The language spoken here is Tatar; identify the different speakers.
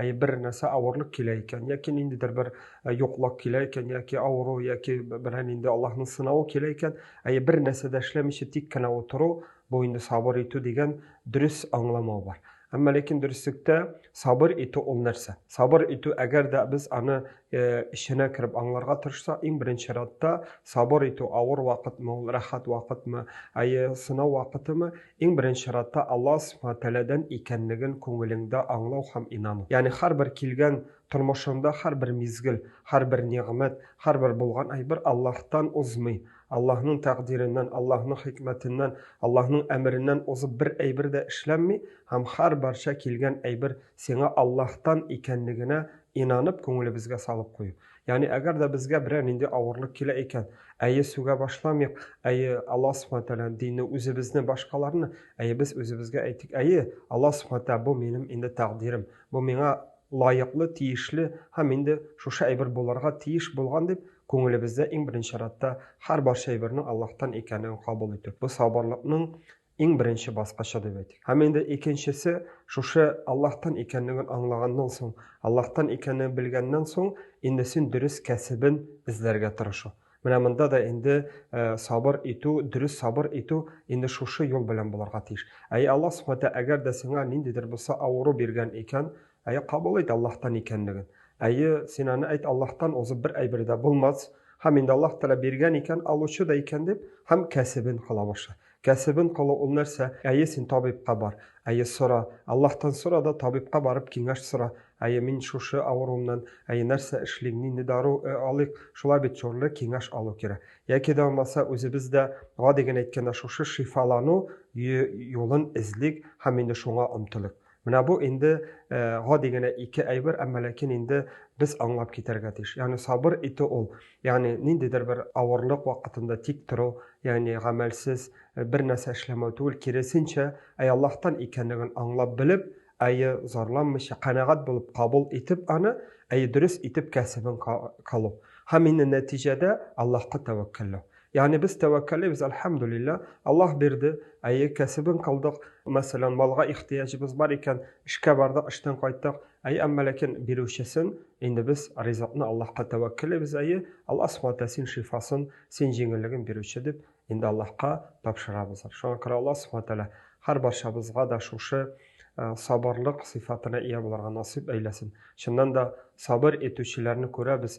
Speaker 1: Әйе, бер нәрсә авырлык килә икән, яки ниндидер бер э, юклык килә икән, яки авыру, яки берәр нинди Аллаһның сынавы килә икән, әйе, бер нәрсә дә эшләмичә тик кенә утыру, бу инде сабыр итү дигән дөрес аңламау бар. Әмма ләкин дөреслектә сабыр итү ул нәрсә? Сабыр итү, әгәр дә без аны э, эченә кереп аңларга тырышсак, иң беренче рәттә сабыр итү авыр вакытмы, ул рәхәт вакытмы, әйе, сынау вакытымы, Иң беренче чиратта Аллаһ Субхана Тәгаләдән икәнлеген күңелеңдә аңлау һәм инану. Ягъни һәрбер килгән, тормышыңда һәрбер мизгел, һәрбер нигъмәт, һәрбер булган әйбер Аллаһтан узмый, Аллаһның тәкъдиреннән, Аллаһның хикмәтеннән, Аллаһның әмереннән узып бер әйбер дә эшләнми һәм һәрбарча килгән әйбер сиңа Аллаһтан икәнлегенә инанып күңелебезгә салып кую. Ягъни, әгәр дә безгә берәр нинди авырлык килә икән, әйе, сүгә башламыйк, әйе, Алла Субхана Тәгаләне, динне, үзебезне, башкаларны, әйе, без үзебезгә әйтик, әйе, Алла Субхана Тәгалә, бу минем инде тәкъдирем, бу миңа лаеклы, тиешле һәм инде шушы әйбер булырга тиеш булган дип, күңелебездә иң беренче чиратта һәрбарча әйбернең Аллаһтан икәнлеген кабул итү. Бу сабырлыкның иң беренче баскычы дип әйтик. Һәм инде икенчесе шушы Аллаһтан икәнлеген аңлаганнан соң, Аллаһтан икәнлеген белгәннән соң, инде син дөрес кәсебен эзләргә тырышу. Менә монда да инде э, сабыр итү, дөрес сабыр итү инде шушы юл белән булырга тиеш. Әй Аллаһ Субхәтә әгәр дә сиңа ниндидер булса авыру биргән икән, әй кабул ит Аллаһтан икәнлеген. Әйе, син аны әйт Аллаһтан узып бер әйбер дә булмас. Һәм инде Аллаһ Тәгалә биргән икән, алучы да икән дип, һәм кәсебен кыла башлый. Кәсебен кылу ул нәрсә? Әйе, син табибка бар. Әйе, сора. Аллаһтан сора да, табибка барып киңәш сора. Әйе, мин шушы авыруымнан, әйе, нәрсә эшлим, нинди дару алыйк? Шулай бит, чорлы, киңәш алу кирәк. Яки дә булмаса, үзебез дә, гади генә әйткәндә, шушы шифалану юлын эзлик һәм инде шуңа омтылыйк. Менә бу инде э, гади генә ике әйбер, әмма ләкин инде без аңлап китәргә тиеш. Ягъни сабыр итү ул, ягъни ниндидер бер авырлык вакытында тик тору, ягъни гамәлсез э, бер нәрсә эшләмәү түгел, киресенчә, әй Аллаһтан икәнлеген аңлап белеп, әйе зарланмыйча, канәгать булып кабул итеп аны, әйе дөрес итеп кәсебен калу. Һәм инде нәтиҗәдә Аллаһка тәвәккәлләү. Ягъни без тәвәккәлләйбез, әлхәмдүлилләһ, Аллаһ бирде, әйе, кәсебен кылдык, мәсәлән, малга ихтыяҗыбыз бар икән, эшкә бардык, эштән кайттык, әйе, әмма ләкин бирүчесен, инде без ризыкны Аллаһка тәвәккәлләйбез, әйе, Аллаһ Субхана ва Тәгалә син шифасын, син җиңеллеген бирүче дип, инде Аллаһка тапшырабыз. Шуңа күрә Аллаһ Субхана ва Тәгалә һәрбарчабызга да шушы сабырлык сыйфатына ия булырга насыйп әйләсен. Чыннан да, сабыр итүчеләрне күрәбез,